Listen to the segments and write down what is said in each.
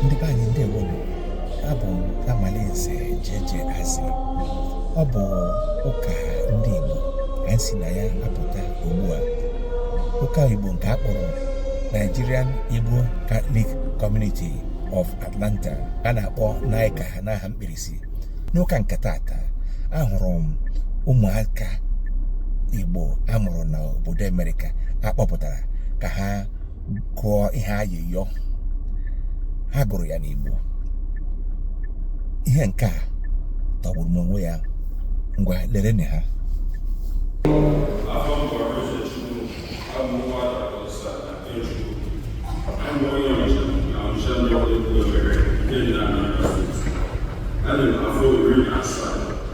ndị be anyị ndị Igbo abụ m Amalinze Jeje Azị ọ bụ ụka ndị Igbo ka anyị si na ya apụta ugbu a ụka Igbo nke a kpọrọ Nigerian Igbo Catholic Community of Atlanta a na-akpọ NICCA n'aha mkpirisi n'ụka nke taata ahụrụ m ụmụaka Igbo a mụrụ n'obodo Amerịka a kpọpụtara ka ha gụọ ihe ayịyọ ha gụrụ ya n'Igbo ihe nke a tọgburu n'onwe ya ngwa lereni ha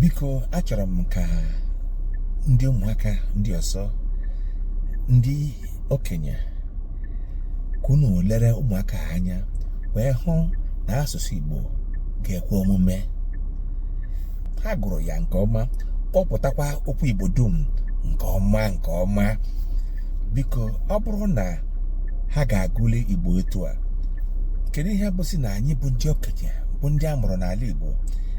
biko achọrọ m ka ndị ụmụaka ndị ọzọ ndị okenye ka unu lere ụmụaka a anya wee hụ na asụsụ Igbo ga-ekwe omume ha gụrụ ya nke ọma kpọpụtakwa okwu Igbo dum nke ọma nke ọma biko ọ bụrụ na ha ga-agụli Igbo etu a kedu ihe bụzi na anyị bụ ndị okenye bụ ndị a mụrụ n'ala Igbo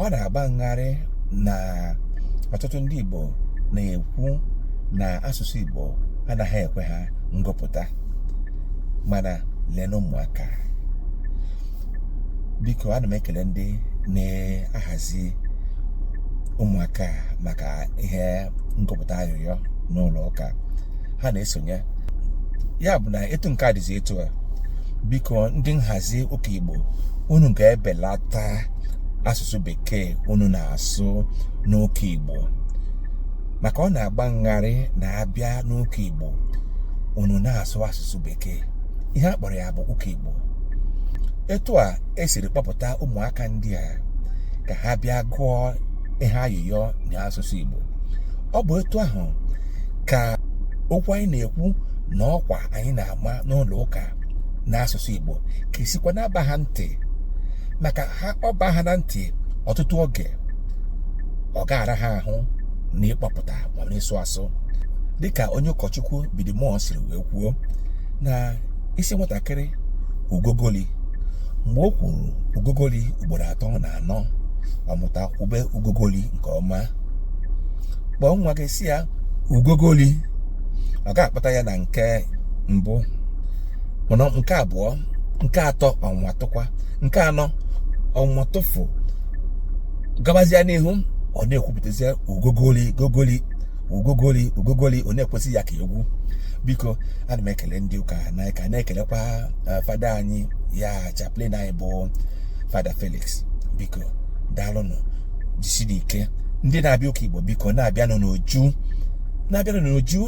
ọ na-agba ngharị na ọtụtụ ndị Igbo na-ekwu na asụsụ Igbo anaghị ekwe ha ngụpụta mana lenụ ụmụaka a biko ana m ekele ndị na-ahazi ụmụaka a maka ihe ngụpụta ayịyọ n'ụlọ ụka ha na-esonye ya bụ na etu nke a dịzi etu a biko ndị nhazi ụka igbo unu ga-ebelata asụsụ bekee unu na-asụ n'ụka igbo maka ọ na-agba ngharị na a bịa n'ụka igbo unu na-asụ asụsụ bekee ihe a kpọrọ ya bụ ụka igbo etu a e siri kpọpụta ụmụaka ndị a ka ha bịa gụọ ihe ayịyọ na asụsụ igbo ọ bụ etu ahụ ka okwu anyị na-ekwu na ọkwa anyị na-ama n'ụlọ ụka n'asụsụ Igbo ga-esikwa na-aba ha ntị maka na ọ baa ha na ntị ọtụtụ oge ọ ga-ara ha ahụ n'ịkpọpụta ma n'ịsụ asụ dịka onye ụkọchukwu bidimọ siri wee kwuo na ị sị nwatakịrị ugogoli mgbe o kwuru ugogoli ugboro atọ na anọ ọ mụta kwube ugogoli nke ọma kpọọ nwa gị sị ya ugogoli ọ ga-akpata ya na nke mbụ mana nke abụọ nke atọ ọ nwatụkwa nke anọ ọ nwatụ fụ gabazia n'ihu ọ na-ekwupụtazi ugogoli gogoli ugogoli ugogoli ọ na-ekwuzi ya ka egwu biko ana m ekele ndị ụka na ka na-ekelekwa eh, fada anyị ya chaplain anyị bụ fada felix biko daalụnụ jisinụ ike ndị na-abịa ụka igbo biko na-abịanụ n'uju na-abịanụ n'uju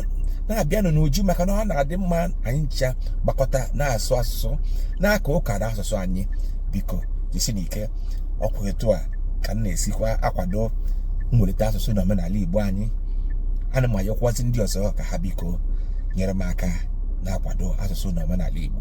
na-abịanụ n'uju maka na ọ na-adị mma anyị ncha gbakọta na-asụ asụsụ na-aka ụka n'asụsụ anyị biko jisinụ ike ọkwa etu a ka m na-esikwa akwado mwelite asụsụ na omenala igbo anyị ana m ayọkwazi ndị ọzọ ka ha biko nyere m aka na-akwado asụsụ na omenala igbo